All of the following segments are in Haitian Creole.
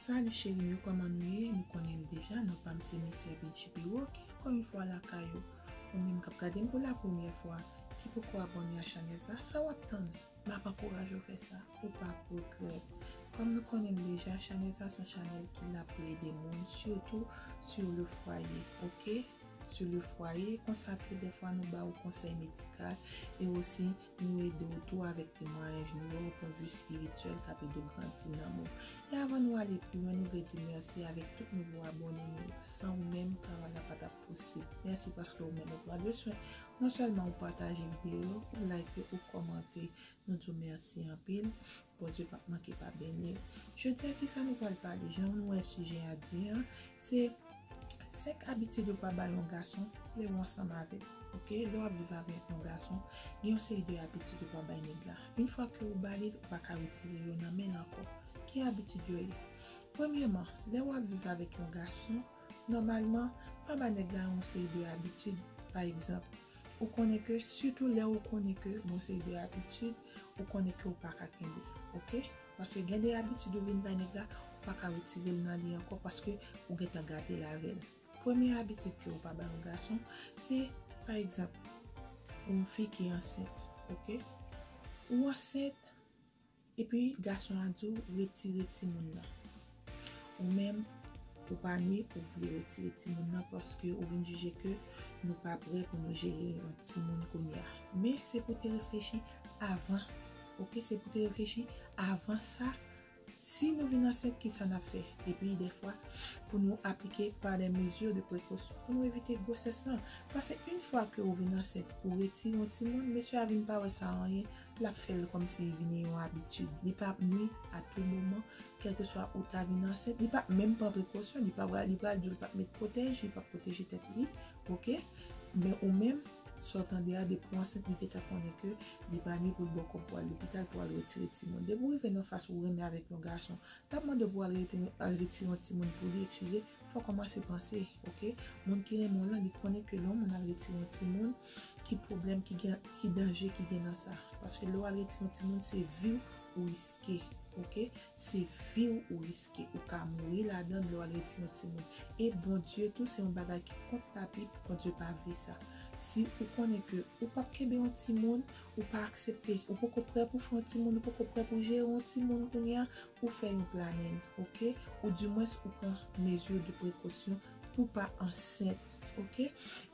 Salut cheri yo koman nou ye nou konnenm deja non pam se Miss Ervintchi Perrault ki ankò yon fwa lakay ou ou menm kap gadem pou la premyè fwa ki poko abòne a chanèl sa sa wap tann map ankouraje w fè sa ou pap regrèt kòm nou konnenm deja chanèl sa son chanèl ki la pou ede moun sitou sur le foyer ok sur le foyer konsa tou dèfwa nou ba ou konsèy medikal e osi Nou ede w tou avèk temwayaj nou yo opwendvi spirityèl k ap ede w grandi nanm ou. E avan nou ale pi lwen nou vle di mèsi avèk tout nouvo abòne nou yo. San ou menm travay la pa t ap posib. Mèsi paske ou menm ou pran de swen non sèlman ou pataje videyo yo, ou like yo, ou kòmante. Nou di w mèsi anpil. Bondye pap manke pa beni w. Jodi a kisa nou pral pale jan nou wè sijè a di an se 5 abitid ou pa bay yon gason lè ou ansanm avè l ok lè wap viv avè yon gason gen yon seri de abitid ou pa bay nèg la yn fwa ke ou ba li l ou pa ka retire yo nan men l ankò ki abitid yo ye premyèman lè wap viv avèk yon gason nòmalman pa ba nèg la yon seri de abitid pa egzanp ou konnen ke sitou lè ou konnen ke gen yon seri de abitid ou konnen ke ou pa ka kenbe ok paske gen de abitid ou vin bay nèg la ou pa ka retirel nan li ankò paske ou gentan gadel avèl premye abitid ke ou pa bay yon gason se pa egzanp yon fi ki ansent ok ou ansent epi gason an diw retire timoun nan. Ou menm ou pa nwi ou vle retire timoun nan paske ou vin jije ke nou pa prè pou nou jere yon timoun kounye a. Men se pou te reflechi avan ok se pou te reflechi avan sa si nou vin ansent kisa nap fè epi dèfwa pou nou aplike pa dè mezi de prekosyon pou nou evite gwosès lan pase yn fwa ke ou vin ansent ou retire yon timoun mesye a vin pa wè sa anyen L ap fè l kòmsi li vini yon abitid. Li pa ap nui a tou moman, kèlkeswa ou ta vin ansent. Li pa ap menm pran prekosyon. Li pa pral, li pral di w li pa ap met pwotèj, li pa ap pwoteje tèt li. Ok. Men ou menm, sa w tande a, depi w ansent, li gentan konnen ke li pa nui pou l ba w kòb pou w al lopital, pou w al retire timoun. Depi w rive nan fas ou renmen avèk yon gason, l ap mande w pou w al rete, al retire yon timoun pou li, ekskize, fò w kòmanse panse. Ok. Moun ki renmen w lan, li konnen ke lè yon moun al retire yon timoun, Ki pwoblèm ki gen, ki danje ki gen nan sa? Paske lè w al retire yon timoun se viw ou riske ok se viw ou riske ou ka mouri ladann lè w al retire yon timoun e Bondye tou se yon bagay ki kont labib Bondye pa vle sa si ou konnen ke ou pap kenbe yon timoun ou pa aksepte ou poko prè pou w fè yon timoun ou poko prè pou w jere yon timoun kounye a ou fè yon planin ok ou di mwens ou pran mezi de prekosyon pou pa ansent. Ok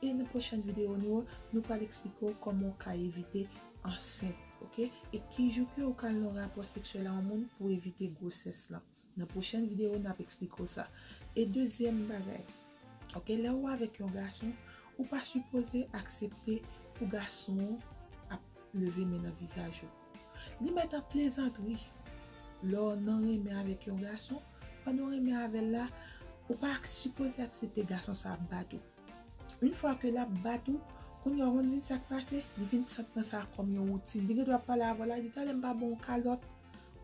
e nan pwochèn video nou yo nou pral eksplike w kòman w ka evite ansent ok e ki jou ke ou ka al nan rapò seksyèl a yon moun pou evite gwosès lan nan pwochèn video nap eksplike w sa e dezyèm bagay ok lè ou avèk yon gason ou pa sipoze aksepte pou gason ap leve men nan vizaj ou. Li mèt ap plezantri. Lè w nan renmen avèk yon gason, pandan w renmen avè l la, ou pa sipoze aksepte gason sa ap bat ou. Yon fwa ke l ap bat ou, kounye a ou konn vin sa k pase, li vin sa pran sa kòm yon woutin. Li gen dwa ap pale avè w la, li di talè m pa ban w kalòt.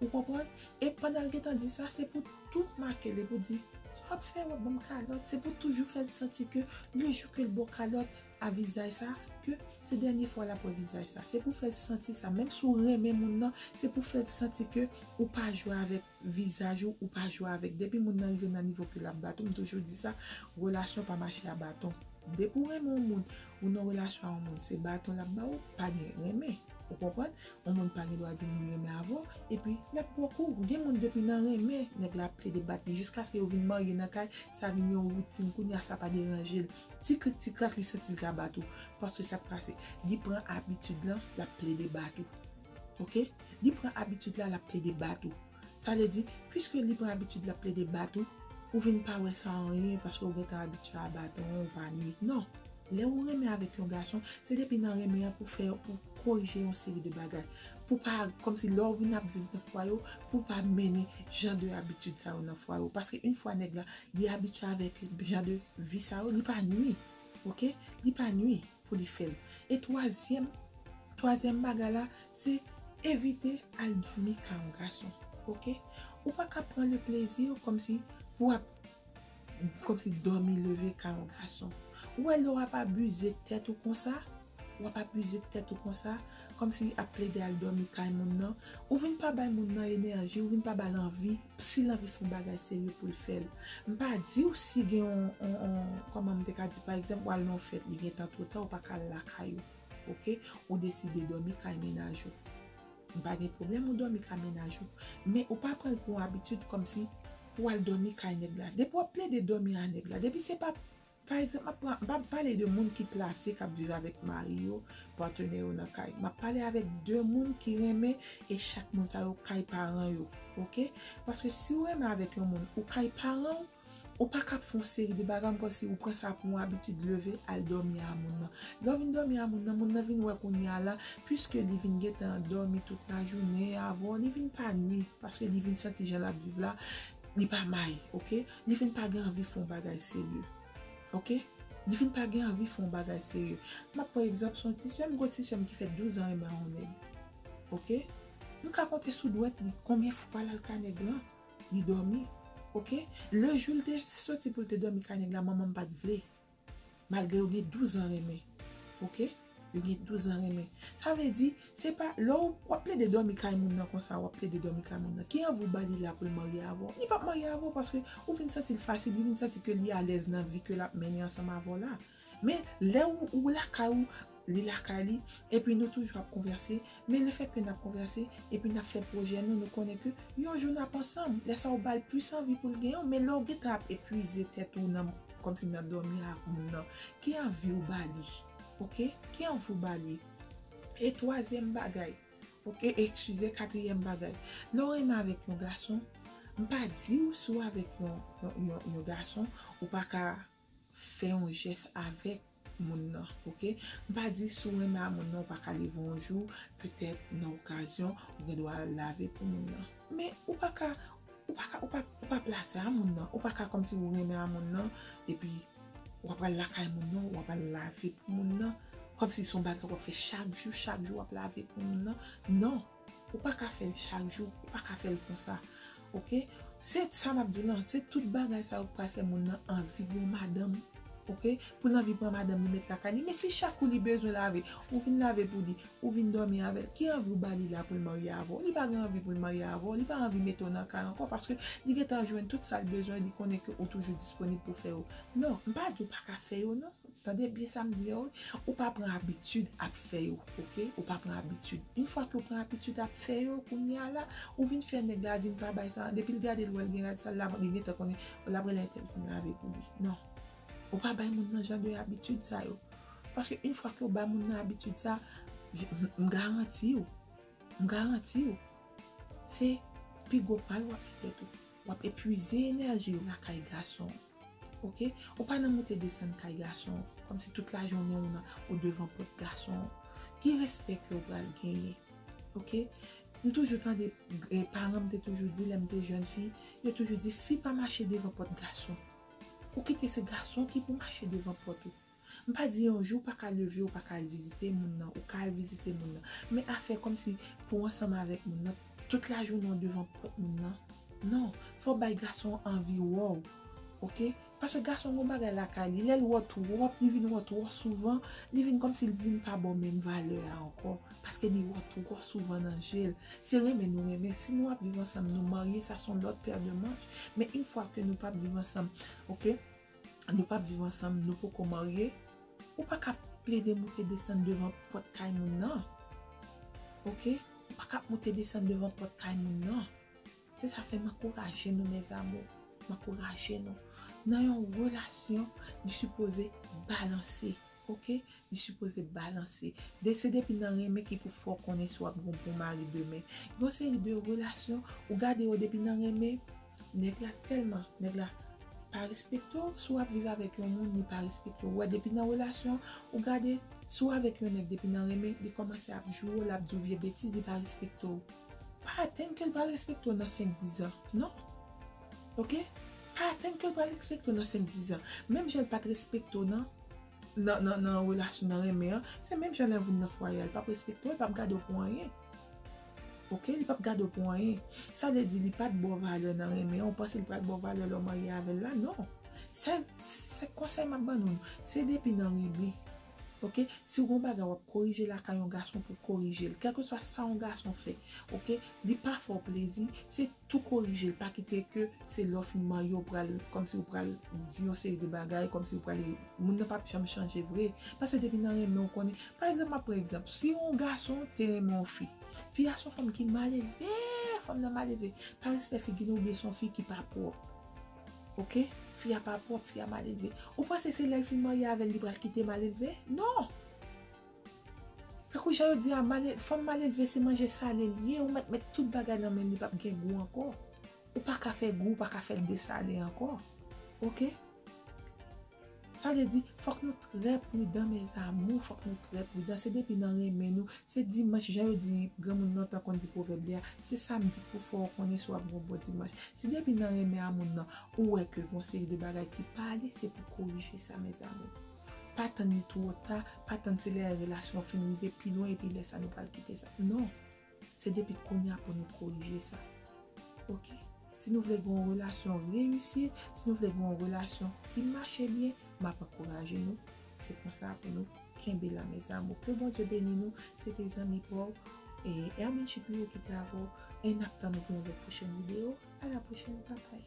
Ou konprann? E pandan l gen tan di sa, se pou tou make l e pou di, sa w ap fè, w ap ban m kalòt. Se pou toujou fè l santi ke lejou ke l ba w kalòt, a vizaj sa ke se dènye fwa lap wè vizaj sa se pou fèl santi sa menm si w renmen moun nan se pou fèl santi ke ou pa jwe avèk vizaj ou ou pa jwe avèk depi moun nan rive nan nivo ke lap bat ou m toujou di sa relasyon pa mache a baton depi ou renmen yon moun ou nan relasyon a yon moun se baton lap ba ou pa gen renmen ou konprann yon moun pa gen dwa di li renmen avè w epi lap pran kou gen moun depi nan renmen nèg la ap plede bat li jiskaske yo vin marye nan kay sa vin yon woutin kounya sa pa deranje l. Ti krik ti krak li santi li ka bat ou paske sak pase li pran abitid lan lap plede bat ou ok li pran abitid la lap plede bat ou sa vle di piske li pran abitid lap plede bat ou ou vin pa wè sa anyen paske ou gentan abitye a baton ou pa nwi non lè ou renmen avèk yon gason se depi nan renmen an pou fè pou korije yon seri de bagay pou pa kòmsi lè ou vin ap viv nan fwaye ou pou pa mennen jan de abitid sa yo nan fwaye ou paske yn fwa nèg la Li abitye avèk jan de vi sa yo li pa nwi ok li pa nwi pou li fèl e twazyèm twazyèm bagay la se evite al dòmi kay yon gason ok ou pa ka pran le plezi kòmsi pou ap kòmsi dòmi leve kay yon gason ou wè lè wap abize tèt ou konsa. Wap abuze tèt ou konsa, kòmsi li ap plede al dòmi kay moun nan, ou vin pa bay moun nan enèji, ou vin pa bal anvi, sil anvi fon bagay serye poul fèl. Mpa diw si gen yon yon kòman m te ka di pa egzanp wal nan yon fèt li gentan two ta ou paka al lakay ou ok, ou deside dòmi kay menaj ou, mpa gen pwoblèm ou dòmi kay menaj ou, men ou pa pranl pou yon abitid kòmsi pou wal dòmi kay nèg la, depi wap plede dòmi a nèg la, depi se pa Pa egzanp, m ap pran, m pa pale de moun ki plase, k ap viv avèk mari yo, patenè yo nan kay. M ap pale avèk de moun ki renmen e chak moun sa yo kay paran yo. Oke? Paske si ou renmen avèk yon moun, ou kay paran ou, ou pa ka ap fè yon seri de bagay kòmsi ou pran sa pou yon abitid leve al dòmi a moun nan. Lè ou vin dòmi a moun nan, moun nan vin wè kounye a la, piske li vin gen tan dòmi tout lajounen avè w, li vin pa nui paske li vin santi jan l ap viv la, li pa may. Oke? Li vin pa gen anvi fè yon bagay serye. Ok. Li vin pa gen anvi fè yon bagay serye. M ap pran egzanp sou yon ti sè m, gwo ti sè m ki fè douzan renmen yon nèg. Ok. M ka konte sou dwèt li konbyen fwa l al ka nèg lan, li dòmi. Ok. Lejou l te soti pou l te dòmi ka nèg la, manman m pa t vle. Malgre yo gen 12 ans renmen ok yo gen 12 ans renmen sa vle di se pa lè wap plede domi kay moun nan konsa wap plede domi kay moun nan ki anvi ou ba li la poul marye avèw li pap marye avèw paske ou vin santil fasil li vin santi ke li alèz nan vi ke lap mennen ansanm avèw la men lè ou lakay ou Li lakay li, epi nou toujou ap konvèse, men lefèt ke n ap konvèse, epi n ap fè pwojè nou, nou konnen ke yon jou n ap ansanm, lè sa ou ba l plis anvi pou l genyen w, men lè ou gen tan ap epuize tèt ou nan, kòmsi nan dòmi avk moun nan, ki anvi ou ba li? Ok, ki anvi ou ba li? E twazyèm bagay, ok, e ekskize, katriyèm bagay, lè ou renmen avèk yon gason, m pa di ou si ou avèk yon, yon, yon gason, ou pa ka. Fè yon jès avèk moun nan ok m pa di si w renmen a moun nan ou pa ka leve yon jou petèt nan okazyon ou gen dwa lave pou moun nan men ou pa ka ou pa ka ou pa ou pa plase a moun nan ou pa ka kòmsi ou renmen a moun nan epi w apral lakay moun nan w apral lave pou moun nan kòmsi son bagay w ap fè chak jou chak jou w ap lave pou moun nan non. Ou pa ka fèl chak jou, ou pa ka fèl konsa ok, se sa map diw lan, se tout bagay sa yo ki pral fè moun nan anvi gen yon madanm ok, poul anvi pran madanm li met lakay li, men si chak kou li bezwen lave ou vin lave pou li, ou vin dòmi avèl, ki anvi ou bali la poul marye avèw, li pa gen anvi poul marye avèw, li pa anvi mete w nan kay ankò paske li gentan jwenn tout sal bezwen, li konnen ke ou toujou disponib pou fè yo, non mpa diw paka fè yo non. Tande byen sa m di yo wi, ou pa pran abitid ap fè yo ok, ou pa pran abitid. Yn fwa ke ou pran abitid ap fè yo kounya la, ou vin fè nèg la vin pa bay sa, depi l gade l wè l gen rad sal la li gentan konnen l ap rele entèl pou l lave pou li. Non, ou pa bay moun nan jan de abitid sa yo. Paske yn fwa ke ou ba moun nan abitid sa, m garanti w, m garanti w, se pi gwo mal w ap fè tèt ou. W ap epwize enèji w lakay gason. Ok ou pa nan moute desann kay gason kòm si tout la jounen ou nan ou devan pòt gason ki respè kew pral genyen ok m toujou tande paran m te toujou di lèm te jèn fi yo toujou di fi pa mache devan pòt gason ou kite se gason ki pou mache devan pòt ou. M pa di yon jou ou pa ka leve ou pa ka al vizite moun nan, ou ka al vizite moun nan. Men afè kòmsi pou w ansanm avèk moun nan, tout lajounen w devan pòt moun nan, non. Fò w bay gason an anvi wè w, ok. Paske gason gen yon bagay lakay li, lè l wè w twòp, li vin wè w twò souvan, li vin kòmsi l vin pa ba w menm valè a ankò. Paske li wè w twò souvan nan je l. Se renmen nou renmen. Si nou ap viv ansanm, nou marye, sa s on lòt pè de manch. Men in fwa ke nou pa p viv ansanm, ok. nou pap viv ansanm, nou poko marye, ou pa ka plede moute desann devan pòt kay moun nan. Ok, ou pa ka moute desann devan pòt kay moun nan. Se sa fè m ankouraje nou mes amours, m ankouraje nou. Nan yon relasyon, li sipoze balanse. Ok li sipoze balanse. De se depi nan renmen ki pou fè w konnen si wap gen yon bon mari demen. Gen yon seri de relasyon ou gade yo depi nan renmen nèg la tèlman nèg la pa respekte w si wap viv avèk yon moun li pa respekte w ou wè depi nan relasyon ou gade si w avèk yon nèg depi nan renmen li kòmanse ap joure w lap di w vye betiz li pa respekte w pa atann ke l pral respekte w nan 5 10 ans non ok. Pa atann ke l pral respekte w nan 5, 10 an. Menm jan l pa t respekte w nan nan relasyon, nan renmen an, se menm jan lè l vin nan fwaye a. Li p ap respekte w, li p ap gade w pou anyen. Ok, li p ap gade w pou anyen. Sa vle di li pa t ba w valè nan renmen an, ou panse li pral ba w valè lè w marye avè l la? Non! Sèl se konsèy m ap ban nou, se depi nan renmen. Ok, si w gen yon bagay w ap korije lakay yon gason pou w korije l. Kèlkeswa sa yon gason fè, ok, li pa fè w plezi, se. tou korijel pa kite ke se lè w fin marye w pral kòmsi w pral di yon seri de bagay kòmsi w pral moun nan pap janm chanje vre paske depi nan renmen w konnen pa egzanp map pran egzanp si yon gason te renmen yon fi fi a son fanm ki malelve fanm nan malelve pa respè figi nan oubyen son fi ki pa pwòp ok fi a pa pwòp fi a malelve ou panse se lèl fin marye avèl li pral kite malelve non. Tankou jan yo di a, fanm malelve se manje sale li ye, ou mèt met tout bagay nan menl li pap gen gou ankò. Ou pa ka fè gou, ou pa ka fèl desale ankò. Ok. Sa vle di, fòk nou trè pridan mes amours, fòk nou trè pridan, se depi nan renmen nou, se dimanch jan yo di, granmoun lontan konn di pwovèb li a, se samdi k pou fè w konnen si wap gen yon bon dimanch. Si depi nan renmen a moun nan, ou wè ke gon seri de bagay ki pa ale, se pou korije sa mes amours. Pa tann li two ta, pa tann se lè relasyon an fin rive pi lwen epi lè sa nou pral kite sa. Non! Se depi kounye a pou nou korije sa. Ok! Si nou vle gen yon relasyon reyisi, si nou vle gen yon relasyon ki mache byen, m ap ankouraje nou. Se konsa pou nou kenbe la mes amours. Ke Bondye beni nou. Se te zanmi pa w, Hermine Chipiou ki te avè w. E n ap tann ou pou yon lòt pwochèn videyo. A la pwochèn! Babay!